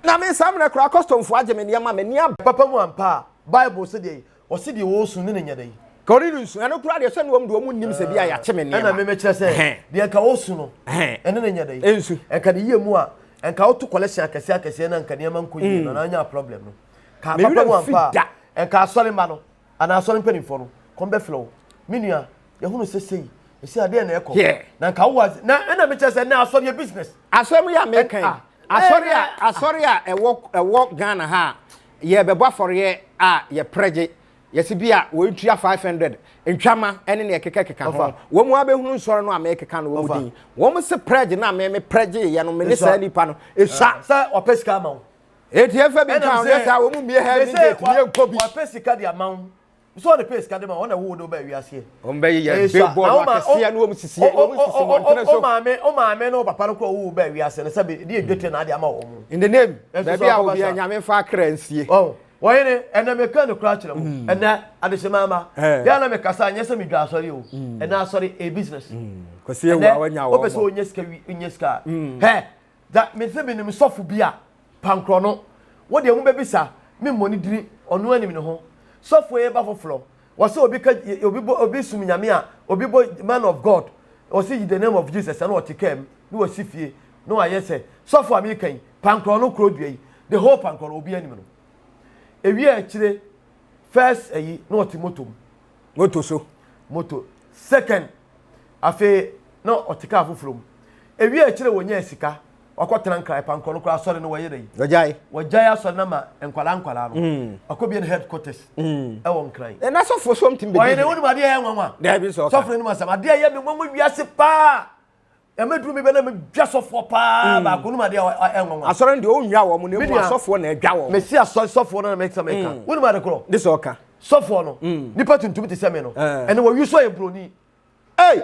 na me saa mmerɛ koraa kɔstɔmfoɔ agye me nneɛma m'ani aba papa mu ampa a bible sɛ deɛ Ɔse deɛ ɔɔsu no ne nyɛ dɛn? Ka ɔne no nsu. Ɛno koraa deɛ sɛ noɔm deɛ ɔmo nnim sɛ bia yɛakye me nneɛma. Ɛna me mekyerɛ sɛ deɛ nka ɔɔsu no ɛne no nyɛ dɛn? Ɛnsu. Ɛnka ne yie mu a ɛnka ɔɔto collection akɛseɛ akɛseɛ na nka nneɛma nkɔ yie na anyaa problem no. Ka papa no ampa a ɛnka asɔre mma no anaa asɔre mpaninfoɔ no kɔm bɛfrɛ wo. Me nua yɛhunu sɛ sei ɛsei adeɛ na ɛɛkɔ na nka wowɔ ase na ɛna mekyerɛ sɛ ɛnɛ asɔre yɛ business. Asɛm yi a meeka yi asɔre a asɔre a ɛwɔ ɛwɔ Ghana ha a Yɛrebɛbɔ afɔreɛ a yɛprɛ gye yɛse bi a wɔntua five hundred ntwama ne nea ɛkekakeka ho. Wɔn ara bɛhunu nsɔre no a merekeka no wɔn din. Wɔn se prɛ gye no a me meprɛ gyeeɛ no mene saa nipa no sua. Sɛ wɔpɛ sika ama wo. Enti yɛmfa bi nka ho, nyɛ saa wɔn mmue Heaven gate no yɛnkɔ bi. Wɔpɛ sika de ama wo. nso ɔde pay sika de ma wɔn na ɛwɔ wɔde ɔbaa wiase yɛ. wɔn bɛ yɛ billboard no akɛseɛ no wɔn sisi wɔn sisi wɔn ntɛnɛ so. o maame o maame no papa no kura ɔwɔ ɔbaa wiase no sɛbi ɛdi edwa tɛ na adi ama wɔn. in the name baabi a obi a nyame fa akra nsie. wɔn ne ɛnna mi kan ne kura kyerɛ mu mm. ɛnna adesemama eh. yɛn na mi kasa nyɛ sɛ mi dwa asɔre o mm. ɛnna asɔre a business. Mm. kɔsi ewu a wɔnya wɔn. o pɛ sɛ o nye sika wi nye sika. hɛ Dza medze minyim sɔfo bi a, pankrɔ no, wo deɛ mobɛbisa me mmɔ ne dini, ɔno anim ne ho. Sɔfoɔ yi ba foforɔ, wɔse obi ka obi bɔ obi som Nyame a, obi bɔ man of God, ɔse in the name of Jesus ɛna ɔte kaa mu na wasi fie na wayɛ sɛ sɔfo a meka yi, pankrɔ no korɔ dua yi, the whole pankrɔ no obiara nim no. Ewie a akyire first ayi na ɔte motor mu. moto so moto second afei na ɔte kaa foforɔ mu ewie akyire wɔnyɛɛ sika wakɔtena nkran pankɔ no koraa asɔre no wɔyɛ dɛ wɔgyae wɔgyae asɔre no ma nkwadaa nkwadaa no mm. wakɔbie no headquarters mm. ɛwɔ nkran ɛna sɔfoɔ sɔm tim bɛdi ɔyɛ ne wonim adeɛ yɛ nwanwa sɔfoɔ no nim asɛm adeɛ yɛ me nwanwa wiase paa ɛmɛ duru mi bɛ na mi dwa sɔfoɔ paa hmm. baako num adeɛ a ɛnwa nwa. asɔre no deɛ o nwa wɔn na emu asɔfoɔ na ɛdwa wɔn. mesi asɔ sɔfoɔ no na mɛ sɛmɛ ka wɔn mu ade korɔ. ne sɛ ɔka. sɔfoɔ no hmm. nipa tuntum ti sɛmɛ no eh. ɛna wɔyi so ayɛ buroni. ɛy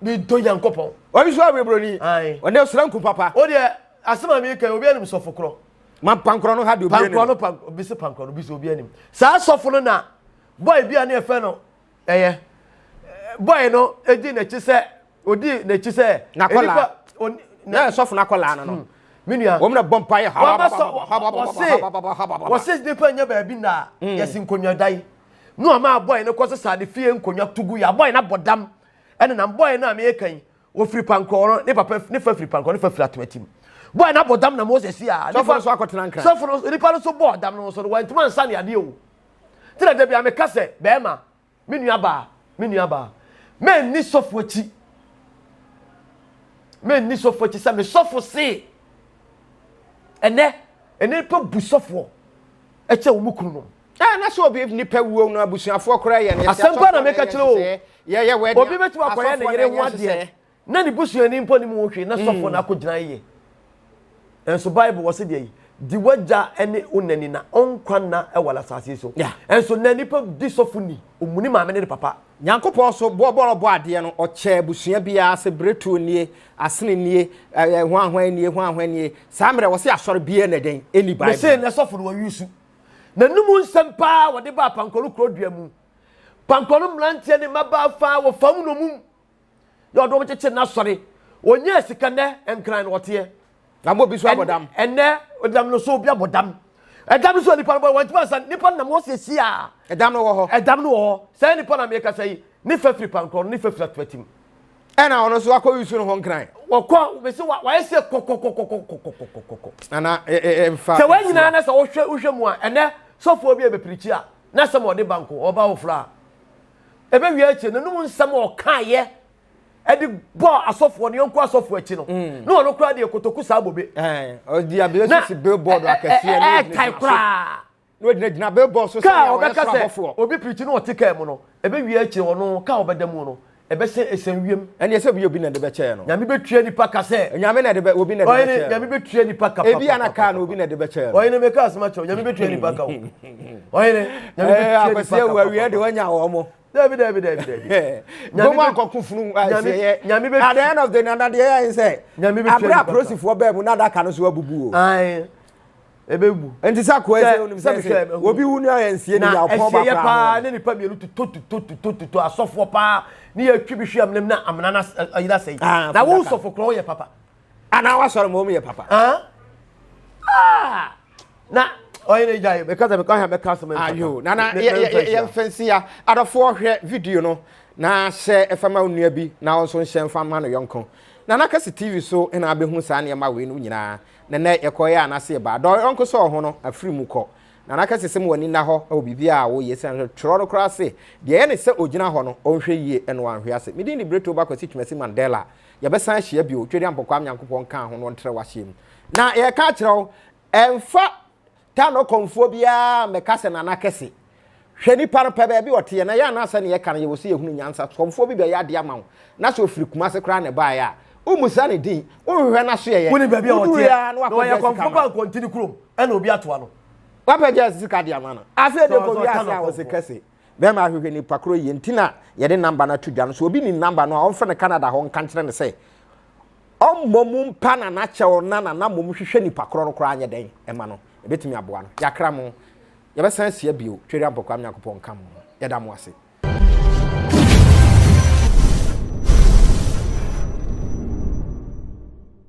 mi dɔ yan kɔ pɔn. wɔyi so ayɛ buroni. ɔnɛ sira nkun papa. o deɛ asema mi kɛ obi anim sɔfo korɔ. ma pankorɔ no ha de obi anim. pankorɔ no pan obi se pankorɔ no obi se obi anim saa sɔfo no na bɔyi bi a ne yɛ fɛ no ɛyɛ bɔyi no edi n'akyi sɛ. odi n'akyi sɛ n'akɔla na sɔfo n'akɔla no no hmm. me nua wɔn na bɔ mpa yɛ haba wɔse wɔse nipa nya baabi na hmm. yɛsi nkonnwa dan no ama abɔɛ no kɔ sesa ne fie nkonnwa tugu yɛ abɔɛ no abɔ dam ɛne nam bɔɛ no a meyɛ kan wɔfiri pankɔɔ no ne papa ne fa firi pankɔɔ ne fa firi atomatim bɔɛ no abɔ dam na moses a sɔfo no so akɔtena nkran sɔfo no nipa no so bɔɔ dam no so no wɔntoma nsa ne adeɛ o tena da bi a meka sɛ bɛrima Me nuabaa, me nuabaa, manni sɔfo akyi. Manni sɔfo akyi sɛ me sɔfo se. Ɛnɛ, ɛnɛ nipa bu sɔfoɔ ɛkyɛ wɔn kunu nom. Ɛɛ na sɛ obi nipa wuo no abusuafoɔ koraa yɛ ne yɛ asɛm pa na meka kyerɛ o. Obi bɛtumi akɔyɛ ne yere ho adeɛ. na ne busuani mpo nim ho hwee na sɔfoɔ no akɔgyina yɛ. Nso Bible wɔ se deɛ yi, di w'agya ne wo na ni na ɔnkwa nna wɔ asase so. Nso na nipa di sɔfo ni, ɔmu ne maame ne ne papa. Nyankopɔn so boɔ bɔ ɔbɔ adeɛ no ɔkyɛɛ abusua biara se bretuo nie, asene nie, ɛɛ hwanhwan nie, hwanhwan nie. Saa mmerɛ wɔ se asɔre biara na dɛn ɛni Bible. Me se na sɔfo no wɔ yusu. Na num nsɛm paa wɔde baa Pankoro kuro dua mu. Pankoro mmranteɛ ne mmabaa faa wɔ fam nomum. na ɔde wɔn kyekyere n'asɔre onyaa sika nnɛ nkran na ɔteɛ na mo obi so abɔ dam ɛnɛ ɔdam no so obi abɔ dam ɛdam no so nipa no bɔ wɔn ti ma nsa nipa no nam wɔn siesie a ɛdam no wɔ hɔ ɛdam no wɔ hɔ sɛ nipa na mmiɛka sɛ yi ne fa firi pankorɔ ne fa firi atuatim ɛna ɔno nso akɔ yusu no ho nkran wɔkɔ bɛsi wa wɔayɛ sɛ kɔkɔkɔkɔkɔkɔkɔkɔkɔ ana ɛmfa sɛ wɔn nyinaa na sɛ wɔhwɛ wohwɛ mu a ɛnɛ sɔfoɔ bi a bɛpirikyi a na sɛ ma ɔde banko ɔba wofra a ɛbɛwie akyire no nom nsɛm a ɔkaeɛ ɛde bɔ asɔfoɔ no yɔnko asɔfoɔ akyi no mm. na ɔno koraa deɛ kotoku saa bobe eh, ɔde abirɛ sisi billboard akɛseɛ ne ɛtae koraa na ɔgyina gyina billboard so sɛ ɔyɛ soro abɔfoɔ obi pirikyi na ɔte kaa mu no ɛbɛwie akyire ɔno kaa ɔbɛda mu no ɛbɛsɛ ɛsɛn wiem ɛne ɛsɛ bi obi na de bɛkyɛɛ no nyame bɛtua nipa ka sɛ nyame na de bɛ obi na de bɛkyɛɛ no nyame bɛtua nipa ka ebi ana kaa na obi na de bɛkyɛɛ no ɔyɛ na mɛka asɛm akyɛw nyame bɛtua nipa ka o ɔyere nyame bɛ tia nipa kakɔ awia de wanya wɔn mo. dabi dabi dabi dabi. nyame bɛ akɔko funu ɛsɛ nyame bɛ at the end of the day nanadeɛ yɛ ayɛ sɛ nyame bɛ tia nipa kakɔ abira polisifoɔ bɛɛ mu n'adaka no so abubu o. ayi ebe wu. nti sɛ akɔ ɛsɛ onim sɛ sɛ obi wu ni ayɛ nsie ni yà ɔpɔn ba kura paa ne nipa mienu tuto tuto tuto tuto asɔfoɔ paa ne yɛ twi bi hwi amena na amena na ayira sɛ yi na wo sɔfo kura ɔyɛ papa. anaa wasɔre ma wɔn yɛ papa. Ah! na ɔyɛ ne gya yi bɛka sɛ bɛka bɛka asɛm ayo na na yɛn fɛnsi ya adɔfoɔ hwɛ video no na hyɛ ɛfɛma onua bi na ɔnso nhyɛ mfa ma no yɔnko na na kɛse tv so na abɛhu saa nneɛma wei no nyinaa na nɛ yɛkɔyɛ anase ba dɔ yɔnko sɛ ɔho no afiri mu kɔ na na kɛse sɛ mu wani nna hɔ wɔ biribi a wɔyɛ sɛ nhwɛ twerɛ no koraa se deɛ yɛ ne sɛ ɔgyina hɔ no ɔnhwɛ yie ɛno anhwɛ ase medin de berɛto ba kwasi twumasi mandela Yɛbɛsan ahyia bio, Tweri Ampɔkwaa Nyankopɔn kaa ho na ɔntrɛw aseɛ mu. Na yɛreka akyerɛ wo, ɛmfa Tano kɔmfoɔ biara mmɛka sɛ Nana kɛse. Hwɛ nipa no, pɛ baabi a ɔteɛ, na yɛn a na asɛnea yɛka no yɛwɔ sɛ yɛhunu nyansa, kɔmfoɔ bi bɛyɛ adeɛ ama wo, na sɛ ɔfiri Kumase koraa na ɛbaeɛ a, wommisa ne din, wonhwehwɛ n'asoɛeɛ, wonim baabi a ɔteɛ, woduruiɛ ara na wapɛ gyɛɛse ka ma no. Na ɔyɛ kɔmfoɔ ba Nkwantini kurom, ɛna obi atoa no. Wapɛ gyɛɛse sika de ama no. Afei deɛ kɔ wiase a, ɔse kɛse. Bɛma ahwehwɛ nipa koro yie nti na yɛde namba no ato dwa no. So obi nim namba no a ɔmfrɛ no Canada hɔ nka nkyerɛ no sɛ ɔmmɔ mu mpa na n'akyɛw na na mmom hwehwɛ nipa koro no koraa nyɛ dɛn ɛma no. Ɛbɛtumi aboa no. Yɛakra mo. Yɛbɛsan asia bio. Tweri Ampɔkwam Nyankopɔn nka mo. Yɛda mo ase.